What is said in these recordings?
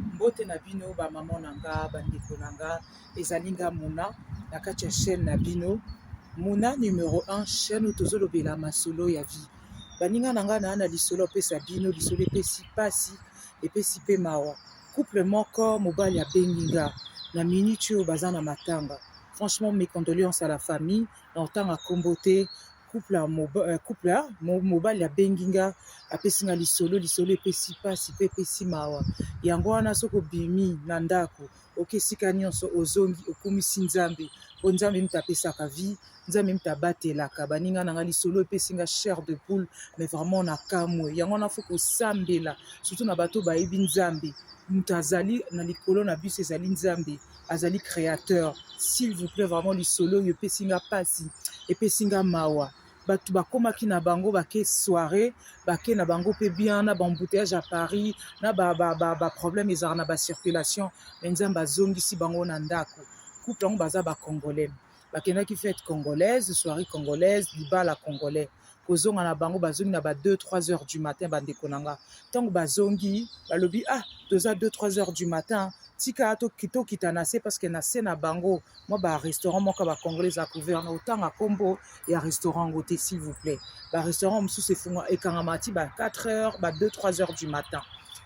Mbote na bino ba mama na nga bandeko na nga ezali nga muna na kati ya chaîne na bino muna numero 1 chaîne oyo tozolobela masolo ya vie baninga na nga naa na lisolo apesa bino lisolo epesi mpasi epesi mpe mawa couple moko mobali abengi nga na minute oyo baza na matanga franchement mes condoléances à la famille na otanga nkombo te couple ya moba- eh, couple ya mo- mobali abengi nga apesi nga lisolo lisolo epesi mpasi mpe epesi mawa yango wana soki obimi na ndako oke esika nyonso ozongi okumisi nzambe mpo nzambe mpe apesaka vie nzambe mpe abatelaka baninga na nga lisolo epesi nga chair de poule mais vraiment na kamwe yango wana fo kosambela surtout na bato bayebi nzambe moto azali na likolo na biso ezali nzambe azali créateur s'il vous plaît vraiment lisolo oyo epesi nga mpasi epesi nga mawa bato bakomaki na bango bake soirée bake na bango mpe bien na baembouteillage ya paris na baproblème ba, ba, ba ezalaka na bacirculation me nzambe azongisi bango na ndako couple yango baza bacongolais bakendaki fete congolaise soirée congolaise libala congolais kozonga na bango bazongi na ba 2 3 heures du matin bandeko na nga ntango bazongi balobi ah toza 2 3 heures du matin tika tokita na se parceke na se na bango mwa barestaurant moko ya bacongolais eza couvert na otanga nkombo ya restaurant yango te s'il vous plaît barestaurant mosusu efunga ekangama ti ba 4 heures ba 2 3 heures du matin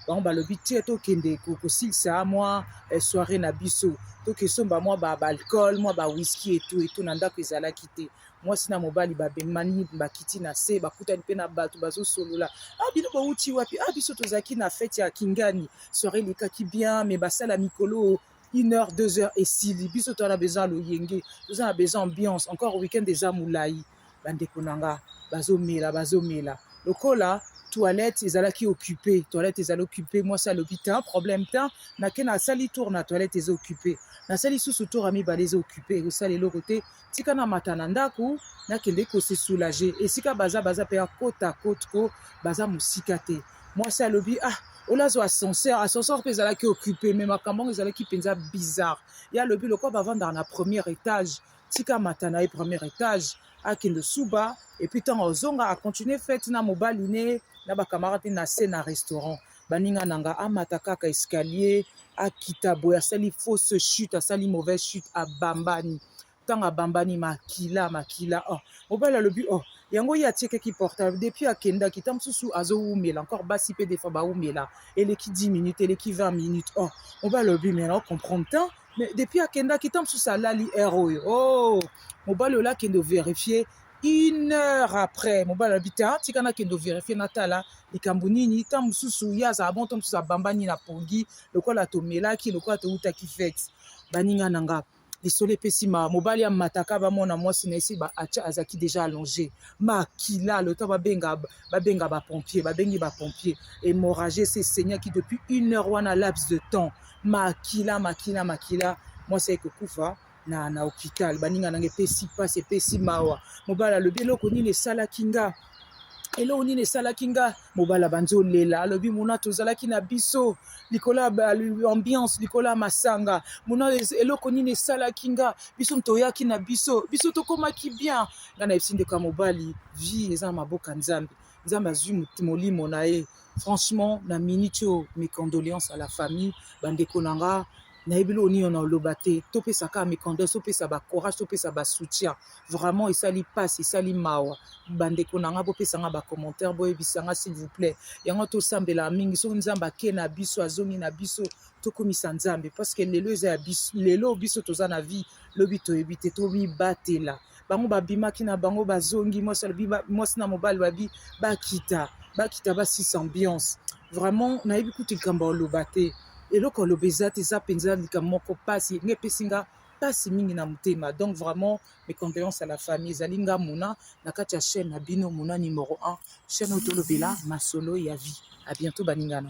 bango balobi te tokende kosilisa mwa eh, soirée na biso tokesomba mwa baalcool mwa bawhiski etu etu na ndako ezalaki te mwasi na mobali babemani bakiti na se bakutani mpe na bato bazosolola a ah, bino bowuti wapi a ah, biso tozalaki na fete ya kingani soire elekaki bien me basala mikolo une heure deux heures esili biso toza na besoin ya loyenge toza na besoin ambiance encore weekend eza molai bandeko na nga bazomela bazomela lokola toilette ezalaki occupe toilette ezali occupe mwasi alobi te problème te nake nasali tour na toilette eza occupe nasali susu tour ya mibale eza occupe ekosala eloko te tika na mata na ndako nakende ko se soulager esika baza baza mpe ya kota cote ko baza mosika te mwasi alobi ah olazo ascenseur ascenseur mpe ezalaki occupe me makambo yango ezalaki mpenza bizarre ye alobi lokola bavandaka na premier étage tika mata na ye premier étage akende suba epuis ntango ozonga acontinue fete na mobali ne na bacamarade na se na restaurant baninga na nga amata kaka escalier akita boye asali fausse chute asali mauvaise chute abambani ntango abambani makila makila oh mobali alobi oh yango ye atiekaki portable depuis akendaki ntango mosusu azowumela encore basi mpe defa bawumela eleki 10 minutes eleki 20 minutes oh mobali alobi me na ocomprendre temps mais depuis akendaki ntango mosusu alali heure oyo oh mobali oyo akende overifie une heure après mobali alobi te ah, tika nakende overifie natala likambo nini ntango mosusu ye azala bongo ntango mosusu abambani na pongi lokola tomelaki lokola towutaki fete baninga na nga lisolo epesi ma mobali ya mataka bamona mwasi na esi acha azalaki deja allonge makila lota babenga babenga bapompier babengi bapompier hémorragie esi esenyaki depuis une heure wana laps de temps makila makila makila mwasi ayeki kokufa na, na hopital baninga nanga epesi mpasi epesi mawa mobali alobi eloko nini esalaki nga eloko nini esalaki nga mobali abandi olela alobi mona tozalaki na biso likolo ya ambiance likolo ya masanga mona eloko nini esalaki nga biso moto oyaki na biso biso tokomaki bien nga na yebisi ndeko ya mobali vie eza na maboka nzambe Nzambe azui molimo na ye. Franchement, na minute oyo, mes condoléances à la famille, bandeko na nga, nayebi eloko nini na oloba te. Topesa kaka mes condoléances, topesa ba courage, topesa ba soutien. Vraiment esali pasi, esali mawa. Bandeko na nga bopesa nga ba commentaire, boyebisa nga s'il vous plaît. Yango tosambela mingi soki Nzambe ake na biso, azongi na biso, tokumisa Nzambe parce que lelo eza ya biso, lelo biso toza na vie, lobi toyebi te, tomibatela. bango babimaki na bango bazongi mwasi alobi mwasi na mobali babi bakita bakita basisa ambiance vraiment nayebi kutu likambo ya oloba te eloko aloba eza te eza mpenza likambo moko mpasi nga epesi nga mpasi mingi na motema donc vraiment mes condoléances à la famille ezali nga mona na kati ya chaîne na bino mona numero 1 chaîne oyo tolobela masolo ya vie à bientôt baninga na